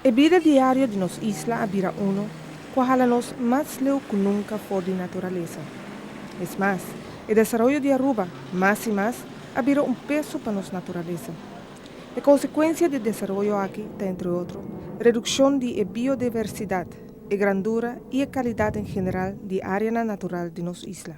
E bida diario di nos isla a bira unu ku a hala nos mas leu ku nunka for di naturalesa. Es mas, e desaroyo di Aruba mas i mas a bira un peso pa nos naturalesa. E konsekuensia di e desaroyo aki ta entre otro redukshon di e biodiversidat, e grandura i e kalidat en general di areanan natural di nos isla.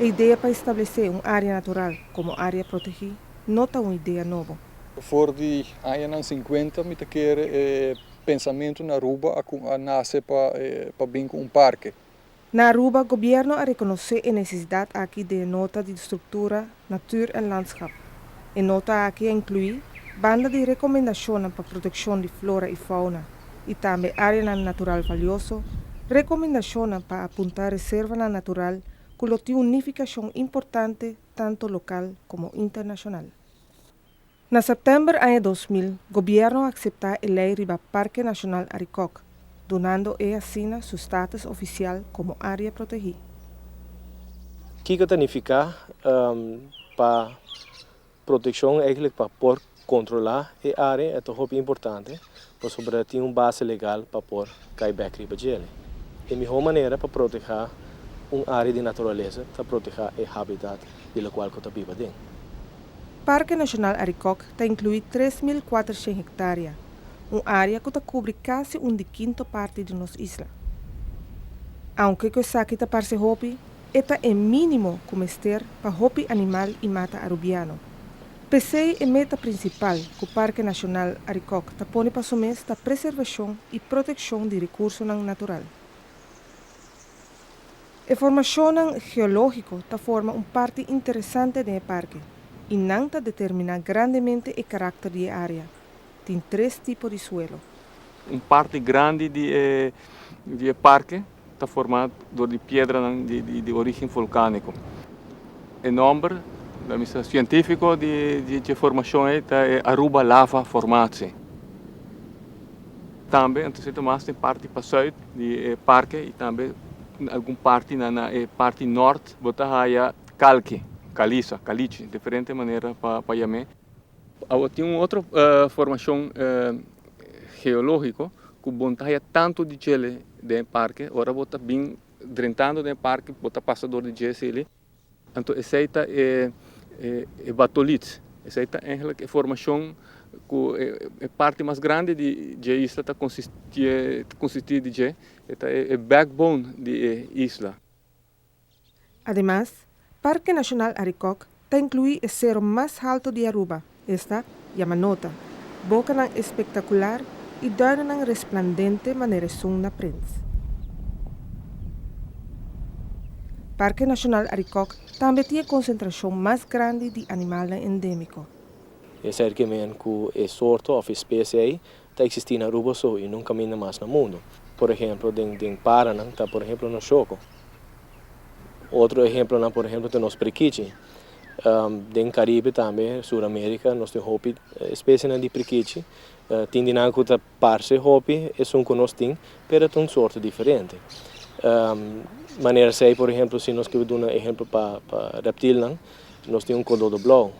E idea pa establesé un área natural komo área protegí no ta un idea nobo. For di añanan sinkuenta mi ta kere e pensamentu na Aruba a nase pa bin ku un parke. Na Aruba, Gobierno a rekonosé e nesesidat aki den e nota di struktura Natuur en Landschap. E nota aki a inkluí banda di rekomendashonnan pa protekshon di flora i fauna i tambe áreanan natural valioso, rekomendashonnan pa apuntá reservanan natural ku lo tin un nifikashon importante tantu lokal komo internashonal. Na sèptèmber aña dos mil, gobièrnu a akseptá e lei riba Parke Nashonal Arikòk, dunando e asina su status ofisial komo área protegí. Kiko ta nifiká pa protekshon, èklik pa por kontrolá e área? E ta hopi importante Pasobra e tin un base legal pa por kai bek riba djel. E mihó manera pa protehá un área di naturalesa ta protehá e hábitat di lokual ku ta biba den. Parke Nashonal Arikòk ta inkluí tres mil kuatershen hektárea, un área ku ta kubri kasi un di kinto parti di nos isla. Aunke ku esaki ta parse hopi, e ta e mínimo ku mester pa hopi animal i mata arubiano, P'esei e meta prinsipal ku Parke Nashonal Arikok ta pone pa su mes ta preservashon i protekshon di rekursonan natural. E formashonnan geológiko ta forma un parti interesante den e parke i nan ta determiná grandemente e karakter di e área, tin tres tipo di suelo. Un parti grandi di e parke ta formá dor di piedranan di orígen volkánico. E nòmber, lo mi sa, sientífiko di dje formashon ei ta e Aruba Lava Formatie. Tambe anto seta mas den parti pa sùit di e parke i tambe den algun parti na e parti nòrt bo ta haya kalke, kaliza, kaliche, diferente manera pa yam'é. Awa tin un otro formashon geológiko ku bon ta haya tantu di djele den e parke. Ora bo ta bin drentando den e parke bo ta pasa dor di dje eseli. Anto esei ta e batolits. Esei ta eigenlik e formashon ku e parti mas grandi di dje isla ta konsistí di dje. E ta e backbone di e isla. Ademas, Parke Nashonal Arikok ta inkluí e sero mas halto di Aruba, esta, Yamanota, bokanan espektakular i duinennan resplandente manera esun na prents. Parke Nashonal Arikok tambe tin e konsentrashon mas grandi di animalnan endémiko. Esei rikimen ku e sorto òf e spesie ei ta existi na Aruba so y nunca minder mas na mundo. Por ehemplo den den paranan ta por ehemplo nos choko. Otro ehemplonan por ehemplo ta nos prikichi. Den Caribe tambe Sur America nos tin hopi especienan di prikichi. Tin di nan cu ta parce hopi esun cu nos tin pero ta un sorto diferente. Manera esey por ehemplo si nos kiba duna ehemplo pa pa reptilnan nos tin un kododo blou.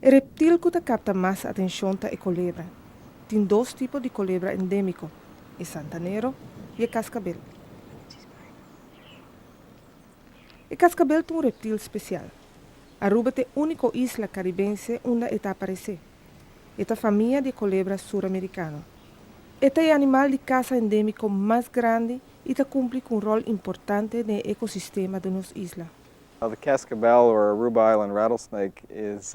E reptil cu ta capta mas atencion ta e colebra. Tin dos tipo di kolebra endémiko, e santanero i e kaskabel. E kaskabel ta un reptil spesial. Aruba ta e úniko isla karibense unda e ta aparesé. E ta famia di e kolebra suramerikano. E ta e animal di kasa endémiko mas grandi i ta kumpli ku un ròl importante den e ekosistema di nos isla. Now the kaskabel, or Aruba island rattlesnake, is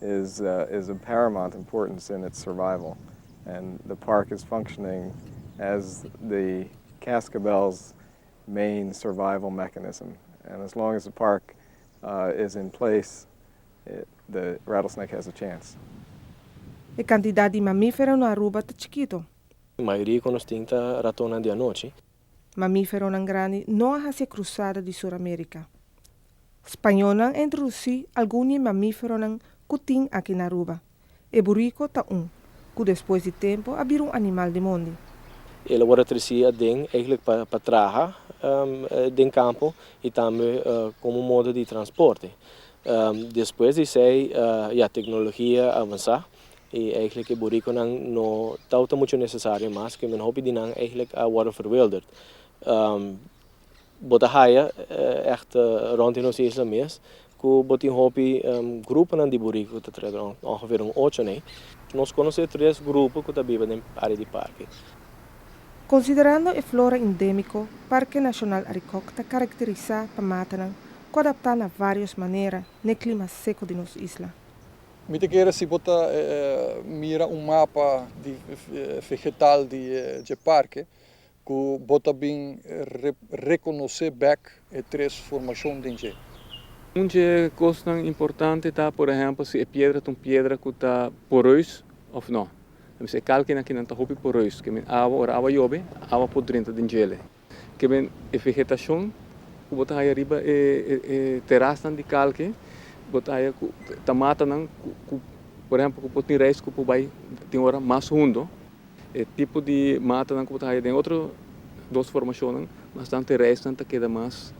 is is of paramount importance in its survival and the park is functioning as the cascabel's main survival mechanism and as long as the park is in place the rattlesnake has a chance. E kantidat di mamífero na Aruba ta chikito. Mayoria ku nos tin ta ratonnan di anochi. mamíferonan grandi no a hasi krusada di Suramérika. Spañolnan a introdusí algun di e mamíferonan ku tin aki na Aruba. E buriko ta un ku despues di tempu a bira un animal di mondi. El a wòrdu tresí aden eihglik pa traha den kampo i tambe komo modo di transporte. Despues di esei ya teknologia a avansá. Y eigenlijk e boriconan no tau ta mucho necesario mas, kende hopi di nan eigenlijk a worde verwilderd. Bo ta haya echt rond di nos isla mes cu bo tin hopi gruponan di borico cu ta tret rond, ongeveer un ocho on ey. Nos conoce tres grupo cu ta biba den área di parke. Considerando e flora indémico, Parke Nacional Arikok ta karakterisá pa matanan cu adaptá na varios manera n'e clima seco di nos isla. Mi ta kere si bo ta mira un mapa di fegetal di dje parke ku bo ta bin rekonosé bèk e tres formashon den dje. Un dje kosnan importante ta, por ehèmpel, si e piedra ta un piedra ku ta poreus òf nò. Ta mester e kalkinan ki nan ta hopi poreus, ke men awa, ora awa yobe, awa por drenta den djele. Kiben e vegetashon ku bo ta haya riba e terasnan di kalke. Bo ta haya ku tamatanan ku por ehèmpel ku bo tin reis ku por bai tin ora mas hundo. E tipo di matanan ku bo ta haya den otro dos formashonnan bastante reisnan ta keda mas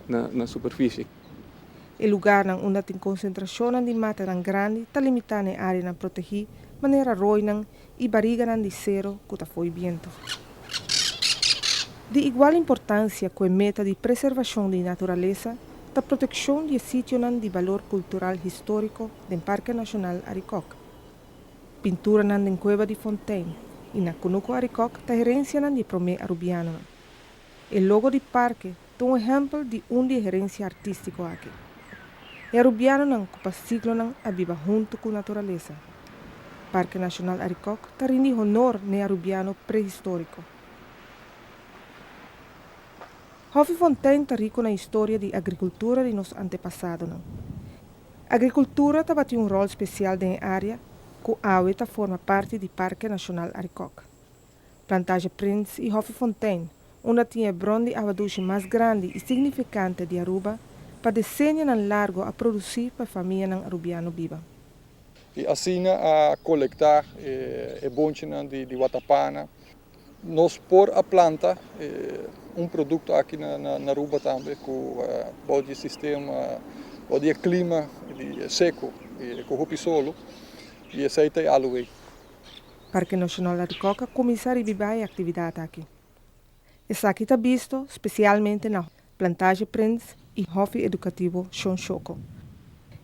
na superfishi. E lugarnan unda tin konsentrashonnan di matanan grandi ta limitá na e áreanan protegí, manera roinan I bariganan di sero ku ta fo'i bientu. Di igual importansia ku e meta di preservashon di naturalesa ta protekshon di e sitionan di balor kultural históriko den Parke Nashonal Arikok. Pinturanan den Kueba di Fontein i na Kunuku Arikok ta herensianan di e promé arubianonan. E logo di parke ta un ehèmpel di un di e herensia artístiko aki. E arubianonan ku pa siglonan a biba huntu ku naturalesa. Parke Nashonal Arikòk ta rindi honor na e arubiano prehistóriko. Hòfi Fontein ta riko na historia di agrikultura di nos antepasadonan. Agrikultura tabata un ròl spesial den e área ku awe ta forma parti di Parke Nashonal Arikòk. Plantaje Prins i Hofi Fontein, unda tin e bron di awa dushi mas grandi i signifikante di Aruba, pa desenianan largu a produsí pa e famianan arubiano biba. I asina a kolektá e bonchinan di watapana. Nos por a planta un produkto aki na Aruba tambe ku bou di e sistema, bou di e klima seku ku hopi solu, i esei ta e aluwei. Parke Nashonal Arikok a kuminsá ribibá e aktividat aki. Esaki ta bisto spesialmente na Plantaje Prins i Hofi Edukativo Shon Shoko.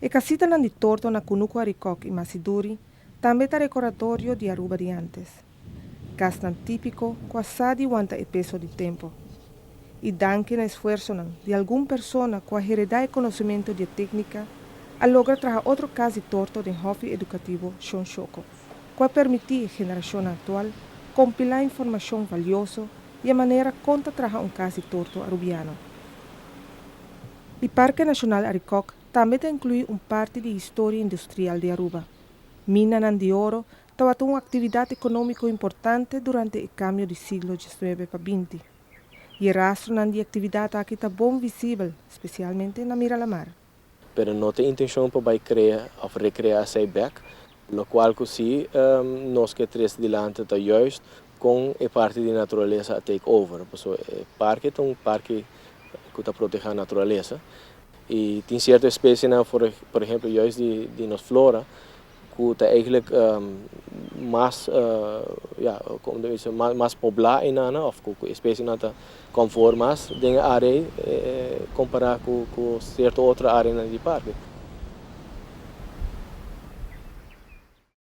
E kasitanan di torto na Kunuku Arikok i Masiduri tambe ta rekordatorio di Aruba di antes. Kasnan típiko ku a sa di wanta e peso di tempu. I danki na esfuersonan di algun persona ku a heredá e konosementu di e téknika, a logra traha otro kas di torto den Hofi Edukativo Shon Shoko. ku a permití e generashonnan aktual kompilá informashon valioso i e manera kon ta traha un kas di tortu arubiano. E Parke Nashonal Arikòk tambe ta inkluí un parti di historia industrial di Aruba. Minanan di oro tabata un aktividat ekonómiko importante durante e kambio di siglo diecinuebe pa binti, i e rastronan di e aktividat aki ta bon visibel, spesialmente na Miralamar. Pero no ta intencion pa bay crea of recrea esey bek, locual cu si nos ke tres dilanti ta juist con e parti di naturalesa a take over, paso e parke ta un parke cu ta proteha naturalesa y tin cierto espesienan, por ejemplo, juist di nos flora. cu ta eigenlijk mas ya como ta bisto mas pobla enan of cu especienan ta conforme mas den e area ey compara cu cierto otro areanan di parke.